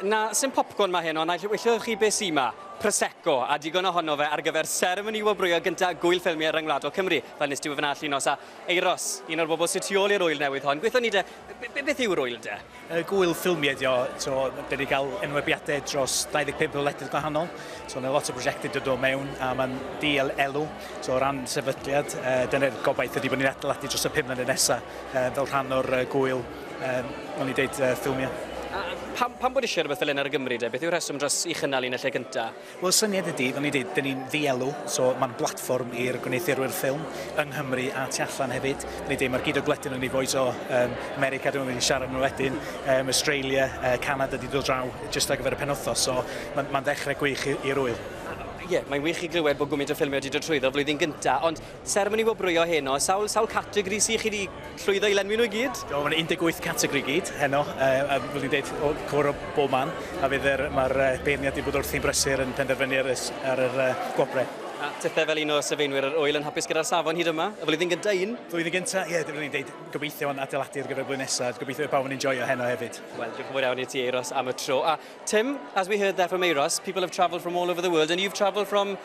Na, sy'm popcorn mae hyn, ond naill wyllwch chi be sy 'ma? Prosecco, a digon ohono fe ar gyfer seremoni wobrwyo gynta Gŵyl Ffilmiau Ryngwladol Cymru, fel nes ti wefan allu nos a Euros, un o'r bobl sy tu ôl i'r ŵyl newydd hon, gweithio ni de, be- beth yw'r ŵyl de? Yy Gŵyl Ffilmiau ydi o, so dan ni gael enwebiadau dros 25 o wledydd gwahanol, so mae lot o brosiectau dod o mewn a mae'n diel elw, so o ran sefydliad yy dyna'r gobaith ydi bod ni'n adeiladu dros y pum mlynedd nesa yy fel rhan o'r yy gŵyl. Um, o'n i deud uh, ffilmiau. A pam, pam bod eisiau rhywbeth fel hyn ar y Gymru de? Beth yw'r rheswm dros i chynnal un y lle cyntaf? Wel, syniad ydy, fel ni dweud, dyn ni'n ddielw, so mae'n blatfform i'r gwneuthurwyr ffilm yng Nghymru a tu allan hefyd. Ni dweud, mae'r gyd o gledyn yn ei fwyd o um, America, dwi'n mynd i siarad nhw wedyn, um, Australia, uh, Canada, di dod draw, jyst ar gyfer y penwthos, so mae'n ma ddechrau gwych i'r ŵyl. Ie, yeah, mae'n wych i glywed bod gwmynt o ffilmio wedi dod trwyddo flwyddyn gyntaf, ond Seremoni wobrwyo heno, sawl, sawl categori sydd chi wedi llwyddo i lenwi nhw i gyd? Do, mae'n 18 categori gyd heno, uh, a fel ni'n dweud, o cwr o bob man, a fydd er, mae'r uh, beirniad wedi bod wrthi'n brysur yn penderfynu ar, ar yr uh, gwobrau. A tithe fel un o sylfaenwyr yr oel yn hapus gyda'r safon hyd yma, y flwyddyn gyntaf un? Flwyddyn gyntaf, ie, yeah, dyn ni'n dweud gobeithio yn adeiladu ar gyfer blwyddyn nesaf, gobeithio bawb yn enjoyo heno hefyd. Wel, diolch yn fawr iawn i ti, Eiros, am y tro. A Tim, as we heard there from Eiros, people have travelled from all over the world and you've travelled from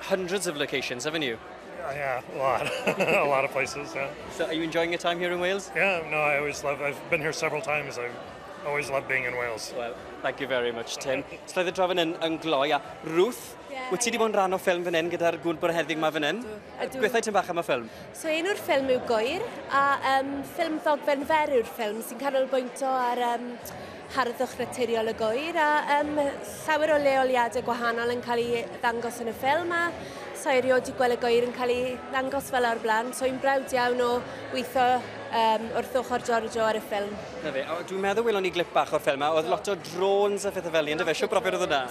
hundreds of locations, haven't you? Uh, yeah, a lot, a lot of places. Yeah. So, are you enjoying your time here in Wales? Yeah, no, I always love. I've been here several times. I always love being in Wales. Well, thank you very much, Tim. so, the drafod yn, yn gloi, a Ruth, yeah, wyt ti wedi yeah. bod yn rhan o ffilm fan hyn gyda'r gŵr bwr heddig yma fan hyn? Gwethau ti'n bach am y ffilm? So, un o'r ffilm yw Gwyr, a um, ffilm ddogfen fer yw'r ffilm sy'n canolbwyntio ar um, harddwch naturiol y gŵyr a um, llawer o leoliadau gwahanol yn cael ei ddangos yn y ffilm a sa'i erioed wedi gweld y gŵyr yn cael ei ddangos fel o'r blaen so i'n brawd iawn o weithio um, wrth ochr Giorgio ar y ffilm. Na fe, dwi'n meddwl welon ni glip bach o'r ffilm a oedd lot o drones a phethau fel ni, ynddo fe? Siw brofiad oedd hwnna?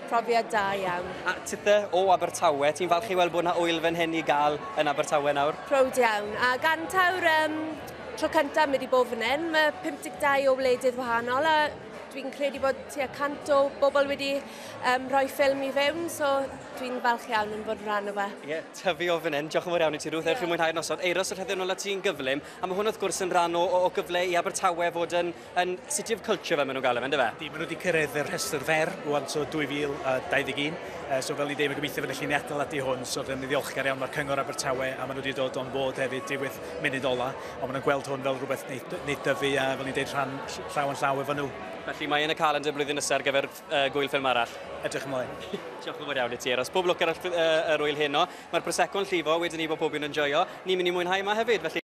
Profiad da iawn. A tithe o Abertawe, ti'n falch i weld bod yna ŵyl fan hyn i gael yn Abertawe nawr? Proud iawn, a gan tawr um, Tro cyntaf mi wedi bod fan hyn, mae 52 o wledydd wahanol a dwi'n credu bod tua 100 o bobl wedi um, rhoi ffilm i fewn, so dwi'n falch iawn yn bod yn rhan o fe. Ie, yeah, tyfu o fan hyn. Diolch yn fawr iawn i ti, Ruth. Yeah. Ewch i mwynhau'r noson. Eiros yr heddiw'n ôl at ti'n gyflym, a mae hwn wrth gwrs yn rhan o, o, o gyfle i Abertawe fod yn Yn City of Culture fel maen nhw'n galw fe, yn dyfe? Ydy, maen nhw wedi cyrraedd y rhestr fer rwan, so 2021, yy so fel i ddim yn gobeithio fydda chi'n atal ati hwn, so rydym ni'n ddiolchgar iawn o'r Cyngor Abertawe a maen nhw wedi dod o'n bod hefyd diwedd munud ola, ond maen nhw'n gweld hwn fel rhywbeth wneud, wneud dyfu a fel ni'n deud rhan llaw yn llaw efo nhw. Felly mae yn y calendr blwyddyn nesa ar gyfer yy gwyl ffilm arall. Edrych ymlaen. Diolch yn fawr iawn i ti Eros. Pob lwc ar yr yy yr ŵyl heno. Mae'r prosecco'n llifo, wedyn ni bod pob un yn joio. Ni'n mynd i mwynhau yma hefyd, felly.